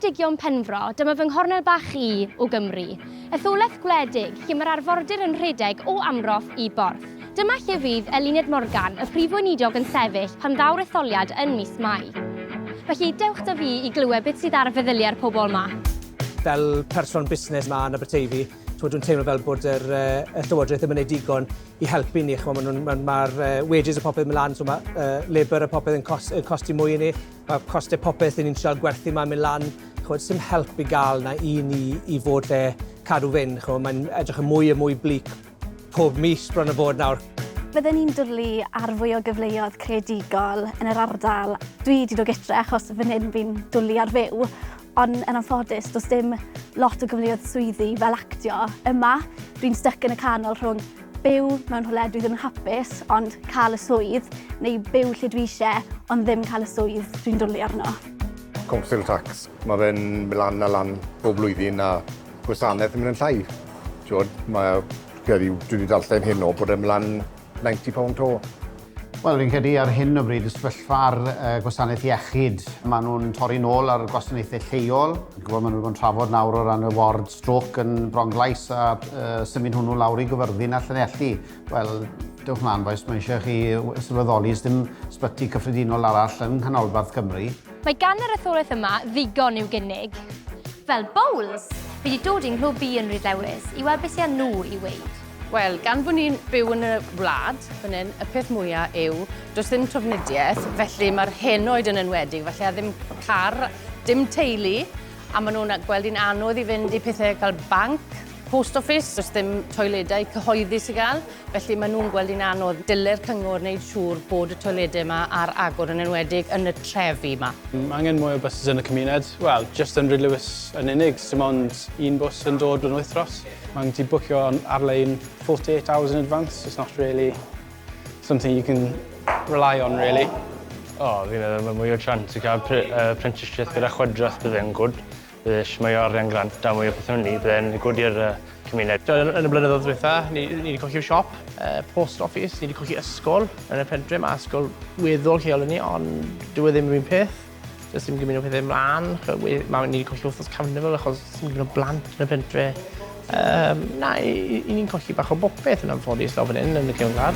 Ceredigion Penfro, dyma fy nghornel bach i o Gymru. Etholaeth gwledig, lle mae'r arfordir yn rhedeg o Amroth i Borth. Dyma lle fydd Eluned Morgan, y Prif Weinidog yn sefyll pan ddaw'r etholiad yn mis Mai. Felly, dewch 'da fi i glywed beth sydd ar feddyliau'r pobl 'ma. Fel person busnes 'ma yn Aberteifi, ch'mod dwi'n teimlo fel bod yr yy y Llywodraeth ddim yn neud digon i helpu ni ch'mo' ma' nhw'n ma' ma'r yy wages a popeth yn myn' lan so ma' yy labour a popeth yn cos- yn costi mwy i ni. Mae costau popeth i ni'n trial gwerthu ma'n mynd lan, ch'mod, sim help i gael na i ni i fod lle cadw fynd, ch'mod, mae'n edrych yn mwy a mwy bleak pob mis bron a bod nawr. Bydden ni'n dwlu ar fwy o gyfleoedd creadigol yn yr ardal. Dwi wedi dod gytre achos fan hyn fi'n dwlu ar fyw, ond yn anffodus does dim lot o gyfleoedd swyddi fel actio yma. Dwi'n styc yn y canol rhwng Byw mewn rhywle dwi ddim yn hapus ond cael y swydd, neu byw lle dwi eisiau ond ddim cael y swydd dwi'n dwlu arno. Council tax, mae fe'n mynd lan a lan bob blwyddyn a gwasanaeth yn mynd yn llai. Tiod, mae, credu, dwi wedi darllen hyn o bod e'n mynd lan £90 to. Wel, fi'n credu ar hyn o bryd y sefyllfa ar uh, gwasanaeth iechyd, maen nhw'n torri nôl ar gwasanaethau lleol. Gwybod, maen nhw'n bod yn trafod nawr o ran y ward stroc yn Bronglais a uh, symud hwnnw lawr i gyfyrddin a Llanelli. Wel, dewch mlaen boes, mae eisiau chi sylweddoli ys dim sbyty cyffredinol arall yng Nghanolbarth Cymru. Mae gan yr etholaeth yma ddigon i'w gynnig. Fel bowls, fi wedi dod i'n nghlwb i yn Rhyddewis i weld beth sy'n nhw i weid. Wel, gan fod ni'n byw yn y wlad fan hyn, y peth mwyaf yw, does ddim trafnidiaeth, felly mae'r henoed yn enwedig, felly a ddim car, dim teulu, a maen nhw'n gweld hi'n anodd i fynd i pethau cael banc, post office, does ddim toiledau cyhoeddus i gael, felly maen nhw'n gweld hi'n anodd. Dylai'r cyngor wneud siŵr bod y toiledau yma ar agor yn enwedig yn y trefi yma. Mae angen mwy o buses yn y cymuned. Wel, just yn Rhyd Lewis yn unig, dim ond un bws yn dod yn wythnos. Mae'n gallu bwcio ar-lein 48 hours in advance, it's not really something you can rely on really. O, fi'n meddwl mae mwy o chance i cael apprenticeship gyda chwydrodd bydd e'n gwrdd. Bydd eich mwy o arian grant a mwy o pethau ni, bydd e'n gwrdd i'r cymuned. Yn y blynyddoedd dweitha, ni wedi colli'r siop, post office, ni wedi colli ysgol yn y pentre, mae ysgol weddol lleol i ni, ond dyw e ddim yr un peth. Does dim gymaint o pethau mlaen, mae wedi colli wythnos carnifol achos sy'n gymaint o blant yn y pentre. Um, na, i, i ni'n colli bach o bopeth yn anffodus lawr fan hyn yn y cefnlar.